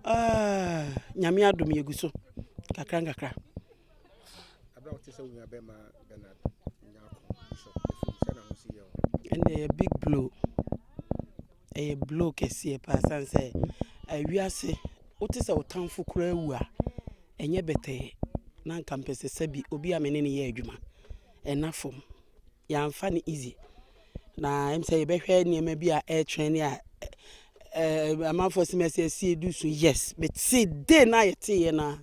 Ah, nyame adom yɛgu so kakra nkakra Ɛnna ɛyɛ big blow, ɛyɛ blow kɛseɛ paa ɛsiane sɛ ewiase wote sɛ wo tamfo koraa awu a, ɛnyɛ bɛtɛɛ na anka mepɛ sɛ sɛ bi obi a me ne no yɛ adwuma, ɛnna fam. Yɛamfa no easy na ɛm sɛ yɛbɛhwɛ nneɛma bi a ɛretrɛn ne a ɛɛ amanfoɔ si mɛsɛ ɛsi edu so yes mete de na yɛte yɛ na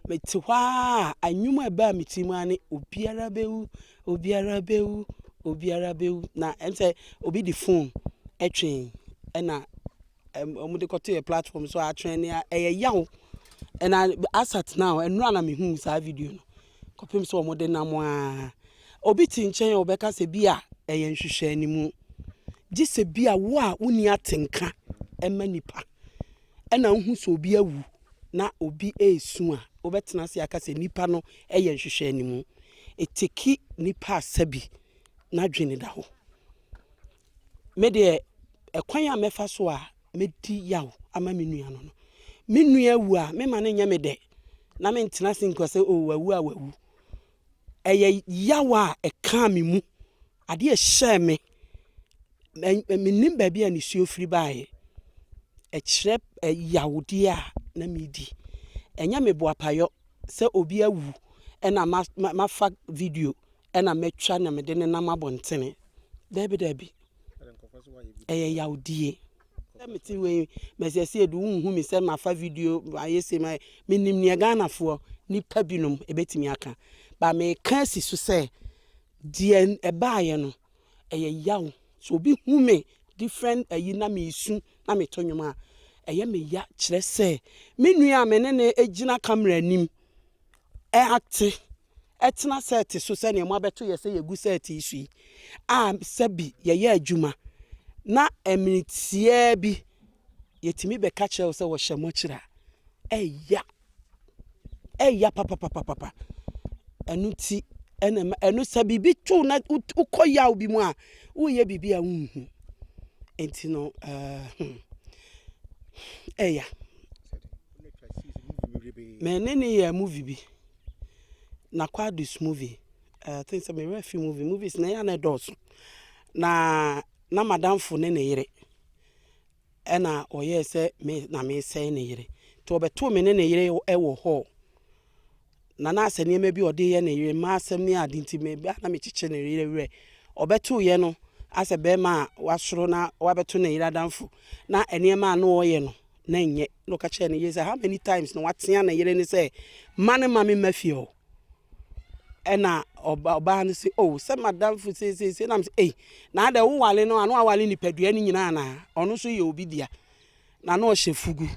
mete hɔ a anwuma ɛbaa me ti mu a ne obiara bɛwu obiara bɛwu obiara bɛwu na ɛm sɛ obi de phone ɛtwɛn ɛna wɔn de kɔto yɛ platform so atwɛn ne a ɛyɛ yaw ɛna asat now ɛnura na mehu saa video no. Kɔpem sɛ wɔde nam aa. Obi te nkyɛn a ɔbɛka sɛ bi a ɛyɛ nhwehwɛanimu. Gye sɛ bi a wo a wonni atenka ma nnipa ɛna wohu sɛ obi awu na obi ɛresu a, wobɛtena ase aka sɛ nnipa no ɛyɛ nhwehwɛanimu. Ɛteki nnipa asabi n'adwene da hɔ. Me deɛ, ɛkwan a mɛfa so a mɛdi yaw ama me nua no no, me nua wu a, memma no nyɛ me dɛ na mentena ase nka sɛ, o wawu a wawu. Ɛyɛ yaw a ɛkaa me mu, adeɛ a ɛhyɛɛ me, mennim baabi a nisuo firi baeɛ. Ɛkyerɛ yawdeɛ a na meredi. Ɛnyɛ me boapayɔ sɛ obi awu na mafa video Ɛna mɛtwa na mede ne nam abɔntene. Daabi daabi. Ɛyɛ yawdie. Sɛ mete wei mɛsɛsɛ edu wonhu me sɛ mafa video ayɛ se ma menim neɛ Ghanafoɔ nipa binom ɛbɛtumi aka ba meka asi so sɛ deɛ ɛbaayɛ no ɛyɛ yaw so obi hu me different ayi na mesu na meto nnwom a ɛyɛ me ya kyerɛ sɛ me nua a me ne ne gyina camera anim ɛate tena sɛɛte so sɛnea moabɛto yɛn sɛ yegu sɛɛte yi so yi, a sɛ bi yɛyɛ adwuma na mmere tiaa bi yetumi bɛka kyerɛ wo sɛ wɔhyɛ mo akyiri a, ɛya. Ɛya papapapapa. Ɛno ti ɛna ɛma ɛno sɛ biribi to na wokɔ yaw bi mu a, woyɛ biribi a wonhu. Enti no, ɛɛ hmm, ɛya. Me ne ne yɛ movie bi. na Kwadu's movie I think sɛ me werɛ afi movie movies na ɛyɛ a na ɛdɔɔso na na madamfo ne ne yere ɛna ɔyɛɛ sɛ me na mesɛe ne yere nti ɔbɛtoo me ne ne yere wɔ hɔ na na asɛ nneɛma bi ɔde yɛ ne yere mma asɛm ne ade nti me ba na mekyekye ne yere werɛ ɔbɛtoo yɛ no asɛ bɛrima a wasoro na wabɛto ne yere adamfo na nneɛma a na ɔyɛ no na ɛnyɛ, na ɔka kyerɛɛ ne yere sɛ, how many times na watea ne yere ne sɛ, ma no ma me mma fie hɔ. Ɛna ɔbaa no se, oh, sɛ madamfo seeseesei, nam sɛ, ei, na adɛ wowale no, ano awale nipadua no nyinaa na ɔno nso yɛ obi dea, na na ɔhyɛ fugu.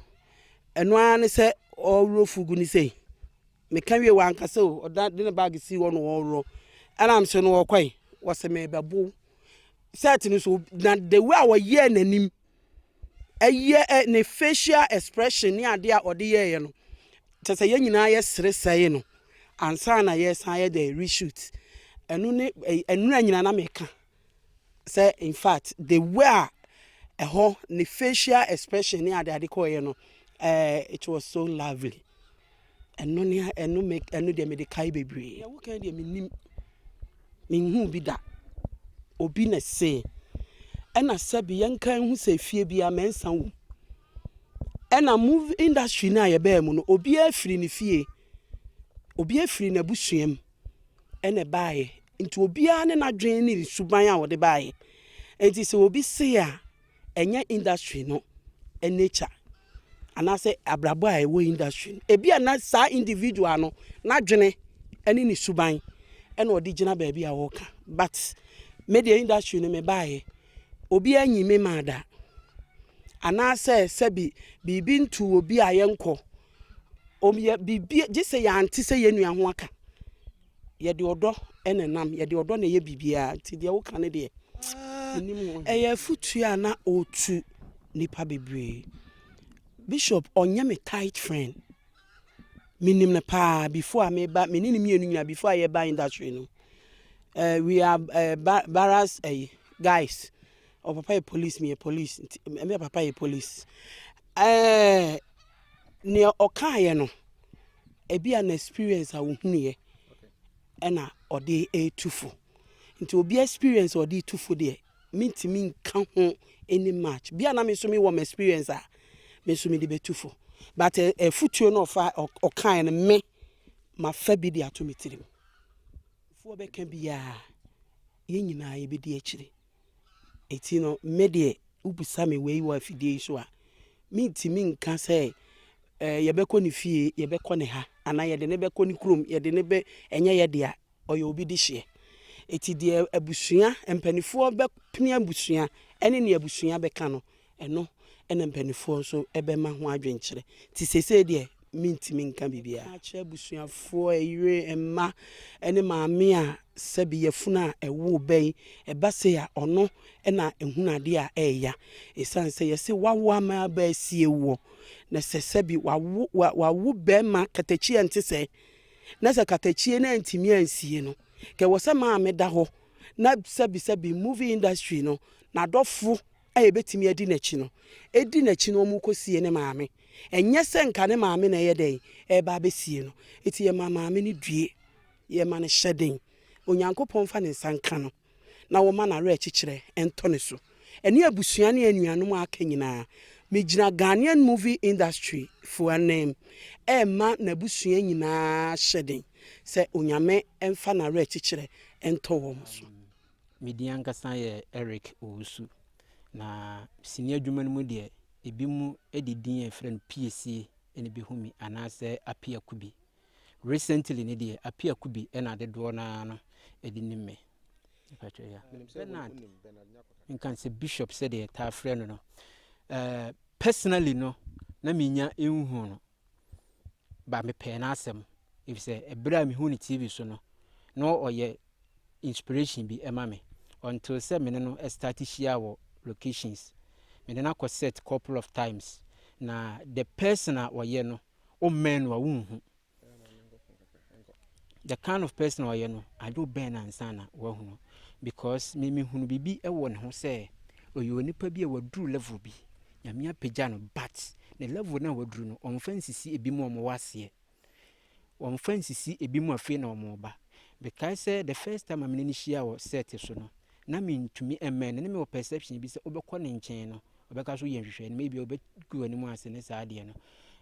Ɛno ara ne sɛ ɔworɔ fugu no sei. Meka wie wanka sɛ o, ɔda de ne bag si hɔ na ɔworɔ. Ɛnam so no ɔkɔe, wɔse mebɛbow. Sɛt no so, na the way a wɔyɛɛ n'anim Ɛyɛ ɛ ne facial expression ne adeɛ a ɔde yɛeɛ no kyɛ sɛ yɛn nyinaa yɛ sere sɛe no ansa na yɛsan ayɛ dɛ reshoot ɛno ne ɛnura nyinaa na meka sɛ in fact the way a ɛhɔ ne facial expression ne adeade kɔeɛ no ɛɛ it was so lovely. Ɛno ne a ɛno me ɛno deɛ mede kae bebree. Deɛ wokan deɛ mennim menhuu bi da. Obi na se ɛna sɛbi yɛnka nhu sɛ fie bia mɛnsa wom. Ɛna movie industry no a yɛbaa mu no obiara firi ne fie, obiara firi n'abusua mu ɛna ɛbaeɛ. Nti obiara ne n'adwene ne ne suban a ɔde baeɛ. Nti sɛ obi se a. ɛnyɛ industry no nature anaasɛ abrabɔ a ɛwɔ industry no ebi a na saa individual no n'adwene ne ne suban ɛna ɔde gyina baabi a ɔreka but me deɛ industry no mebaeɛ obi anyi me maa da anaasɛ sɛbi biribi ntu obi a yɛnkɔ Wɔyɛ biribiara gye sɛ yɛante sɛ yɛn nua ho aka. Yɛde ɔdɔ na ɛnam, yɛde ɔdɔ na ɛyɛ biribiara, nti deɛ woka no deɛ, mennim ho. Ɛyɛ afotuo a na ɔretu nnipa bebree. Bishop, ɔnyɛ me tight friend. Menim no paa before a meba, me ne no mmienu nyinaa before a yɛba industry no. Uh, we are uh, bar barras uh, guys. Ɔpapa yɛ police, meyɛ police, nti me papa yɛ police. Uh, nea ɔkaeɛ no, ebi a na experience a ɔhunuiɛ ɛna ɔde retu fo. Nti obi experience a ɔde tu fo deɛ, mentumi nka ho any match. Bi a na me nso mewɔ m experience a, me nso mede bɛtu fo. But afutuo no ɔfa ɔkaeɛ no, me mafa bi de ato me tirim. Fuo bɛka biara, yɛn nyinaa yɛbɛdi akyire. Enti no, me deɛ, wobisa me wei wɔ afidie yi so a, mentumi nka sɛ ɛɛ yɛbɛkɔ ne fie, yɛbɛkɔ ne ha, anaa yɛde no bɛkɔ ne kurom, yɛde no bɛ ɛnyɛ yɛ dea, ɔyɛ obi de hyeɛ. Enti deɛ abusua, mpanimfoɔ bɛpene abusua ne deɛ abusua bɛka no, Ɛno na mpanimfoɔ nso bɛma ho adwenkyerɛ. Nti seesei deɛ mentumi nka biribiara. Meka akyerɛ abusuafoɔ, yere, mma ne maame a sɛbe yafunu a ɛwo ba yi ɛba sei a, ɔno na ɛhunu adeɛ a ɛreya. Ɛsiane sɛ yɛse wawo ama aba asie woɔ, na sɛ sɛbe wawo, wa, wawo barima katakyi a ɛnte sɛɛ, na sɛ katakyie no antumi ansie no, nka ɛwɔ sɛ maame da hɔ, na sɛbe sɛbe movie industry no, n'adɔfo a yɛbɛtumi adi n'akyi no, ɛdi n'akyi no wɔrekɔsie ne maame. Ɛnyɛ sɛ nka ne maame na ɛyɛ dɛn? Ɛreba abɛsie no. Enti yɛma maame no due, yɛma no hyɛden, Onyankopɔn mfa ne nsa nka no na wɔma no awerɛkyekyerɛ ntɔ ne so, ɛne abusua ne anuanom a aka nyinaa. Megyina Ghanaian movie industry foɔ ananmu ɛrema n'abusua nyinaa hyɛden sɛ Onyame mfa n'awerɛkyekyerɛ ntɔ wɔn so. Me din ankasa yɛ Eric Owusu, na sini adwuma no mu deɛ, ebinom de din a yɛfrɛ no Piesie na ebehu me anaasɛ Apiakubi. Recently no deɛ, Apiakubi na adedoɔ no ara no de nim me. Mpakyɛ ya. Bernard, nka sɛ Bishop sɛdeɛ yɛtaa frɛ no no. Uh, personally no, na menya nhu no, but mepɛɛ n'asɛm efisɛ bere a mihu no TV so no, na ɔyɛ inspiration bi ma me. Until sɛ me ne no start hyia wɔ locations. Me ne no akɔ set couple of times, na the person a ɔyɛ no, wommɛn no a wunhu. the kind of person a ɔyɛ no adwo bɛn na nsa na wahunu because me mehunu biribi wɔ ne ho sɛ ɔyɛ onipa bi a waduru level bi nyame apagya no but ne level no a waduru no ɔmfa nsisi ebi mu ɔmo wɔ aseɛ ɔmfa nsisi ebi mu afei na ɔmo ba bekae sɛ the first time a mene ne hyia wɔ set so no na mintumi mmɛn no, na mewɔ perception bi sɛ wobɛkɔ ne nkyɛn no, ɔbɛka so yɛ nhwehwɛ no, maybe ɔbɛgu w'anim ase ne saa adeɛ no.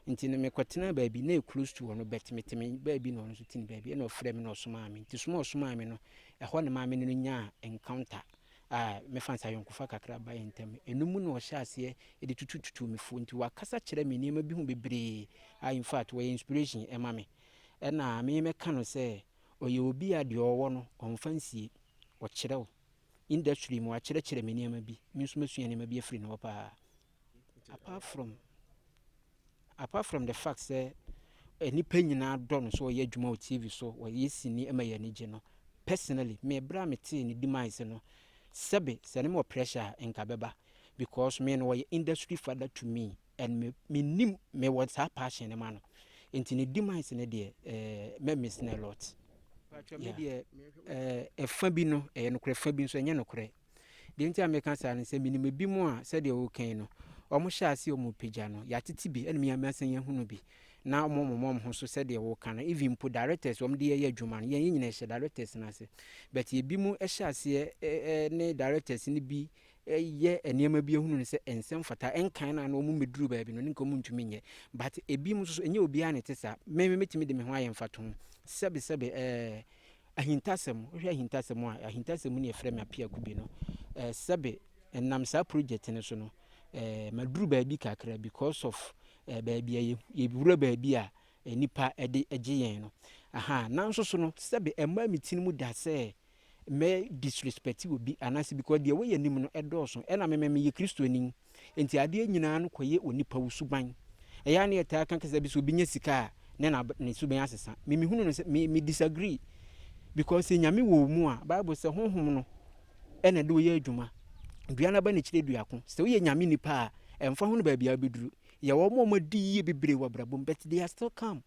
Nti no mekɔtenaa baabi na close to hɔ no, but mete me baabi na ɔno nso te ne baabi, ɛna ɔfrɛ me na ɔsomaa me. Nti soma a ɔsomaa me no, ɛhɔ na maa me ne no nyaa encounter a mɛfa nsa ayɔnkofa kakra ba yɛn ntam. Ɛno mu na ɔhyɛ aseɛ de tutututu me fo. Nti wakasa kyerɛ me nneɛma bi ho bebree a in fact wɔyɛ inspiration ɛma me. Ɛna me mɛka no sɛ Ɔyɛ obi a deɛ ɔwɔ no ɔmfa nsie, ɔkyerɛw. Industry mu wakyerɛkyerɛ me nneɛma bi, me nso masua nneɛma bi afiri ne hɔ paa. Apart from, apart from the fact sɛ nnipa nyinaa dɔ no sɛ ɔyɛ adwuma wɔ TV so, ɔyɛ sini ɛma yɛn ani gye no, personally me berɛ a metee ne demise no, sɛbe sɛ ne mewɔ pressure a nka bɛba because me no ɔyɛ industry father to me. And me menim me wɔ saa passion no ma no nti ne demise no deɛ eh, mɛ miss no a lot. Patwa me deɛ eh, ɛfa bi no ɛyɛ nokorɛ fa bi nso ɛnyɛ nokorɛ deɛ nti a meka saa no sɛ menim ebi mu a sɛdeɛ wokan no wɔn hyɛ ase wɔn pagya no yɛatete bi ɛna meyame asan yɛahunu bi na wɔn wɔn wɔn ho so sɛdeɛ woka no even mpo directors wɔn de yɛyɛ adwuma no yɛn yɛn nyinaa hyɛ directors no ase but ebi mu hyɛ aseɛ eh, eh, ne directors no bi yɛ nneɛma bi ahunu no sɛ ɛnsɛ mfata nkan no a na wɔn bɛduru baabi no ne nka wɔn ntumi nyɛ but ebinom nso so ɛnyɛ obiara na ɛte saa me me mɛtumi de me ho ayɛ mfatoho sɛbe sɛbe ɛɛ ahintasɛm wohwɛ ahintasɛm a ahintasɛm ne yɛfrɛ me apiako bi no ɛɛ sɛbe ɛnam saa project no so no ɛɛ maduru baabi kakra because of ɛɛ baabi a yɛwura baabi a nipa ɛde gye yɛn no aha nanso so no sɛbe ɛmaa me ti no mu da sɛ mɛ disrespect obi anaasɛ because deɛ wɔyɛ anim no ɛdɔɔso ɛna memɛ meyɛ kristoni nti adeɛ nyinaa no kɔyɛ onipa wo suban ɛyɛ a ne yɛtaa ka kasa bi sɛ obi nya sika a ne na ne suban asesa me mehunu no sɛ me, me disagree because sɛ nyame wɔ mu a bible sɛ honhom no ɛna de wɔyɛ adwuma dua no aba ne kyerɛ duako sɛ woyɛ nyame nipa a ɛmfa ho no baabi a wobɛduru yɛwɔ ma ɔma di yie bebree wɔ abrabɔ mu but they are still calm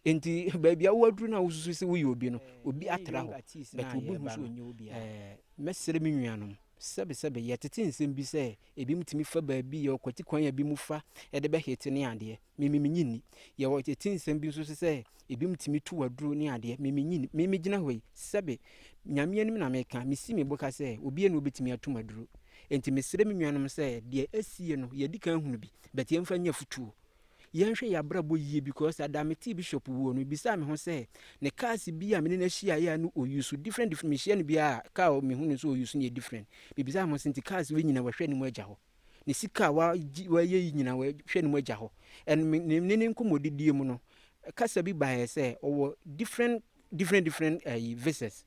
nti baabi a woaduru no a wosusu sɛ woyɛ obi no obi atra hɔ but obi hu so ɔnyɛ obi a mɛsrɛ me nuanom sɛbesɛbe yɛtete nsɛm bi sɛ ebi mu tumi fa baabi yɛ ɔkwati kwan a ebi mu fa de bɛhete ne adeɛ mimi menyi nni yɛwɔ tete nsɛm bi nso so sɛ ebi mu tumi to waduro ne adeɛ mimi nyi nni mimi gyina hɔ yi sɛbe nyame anim na meka mesi me boka sɛ obi ɛna obetumi ato maduro nti mesrɛ me nuanom sɛ deɛ asie no yɛdi kan hunu bi bɛte yɛmfa nyɛ futuo Yɛnhwɛ yɛn abrabɔ yie because ada a metee Bishop wuo no, mebisaa me ho sɛ, ne cars bi a me ne no ahyiaeɛ a na ɔyi so different different, mehyia no biara a car a mehu no nso ɔyi so no yɛ different. Mebisaa me ho sɛ nti cars wei nyina wahwɛ ne mu agya hɔ? Ne sika a wagye wayɛ yi nyina wahwɛ ne mu agya hɔ? And me ne ne nkɔmmɔdidie mu no, kasa bi baeɛ sɛ ɔwɔ different different different ayi visas.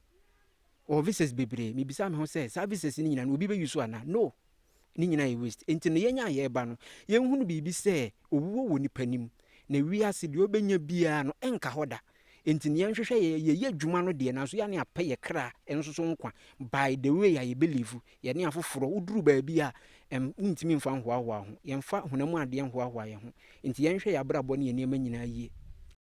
Wɔwɔ visas bebree. Mebisa me ho sɛ, saa visas no nyina no obi bɛ use anaa? No! Ne nyina yɛ waste. Nti no yɛn a yɛɛba no, yɛnhunu biribi sɛ, owuo wɔ nipa nim. Na wiase, deɛ ɔbɛnya biara no, ɛnka hɔ da. Nti no yɛnhwehwɛ yɛ, yɛyɛ adwuma no deɛ, nanso yɛa ne apɛ yɛ kra nso so nkwa by the way a yɛ believe. Yɛne afoforɔ, woduru baabi a, ɛm, wontumi mfa nhoahoa ho. Yɛmfa honam adeɛ nhoahoa yɛ ho. Nti yɛnhwɛ yɛ abrabɔ ne yɛ nneɛma nyinaa yie.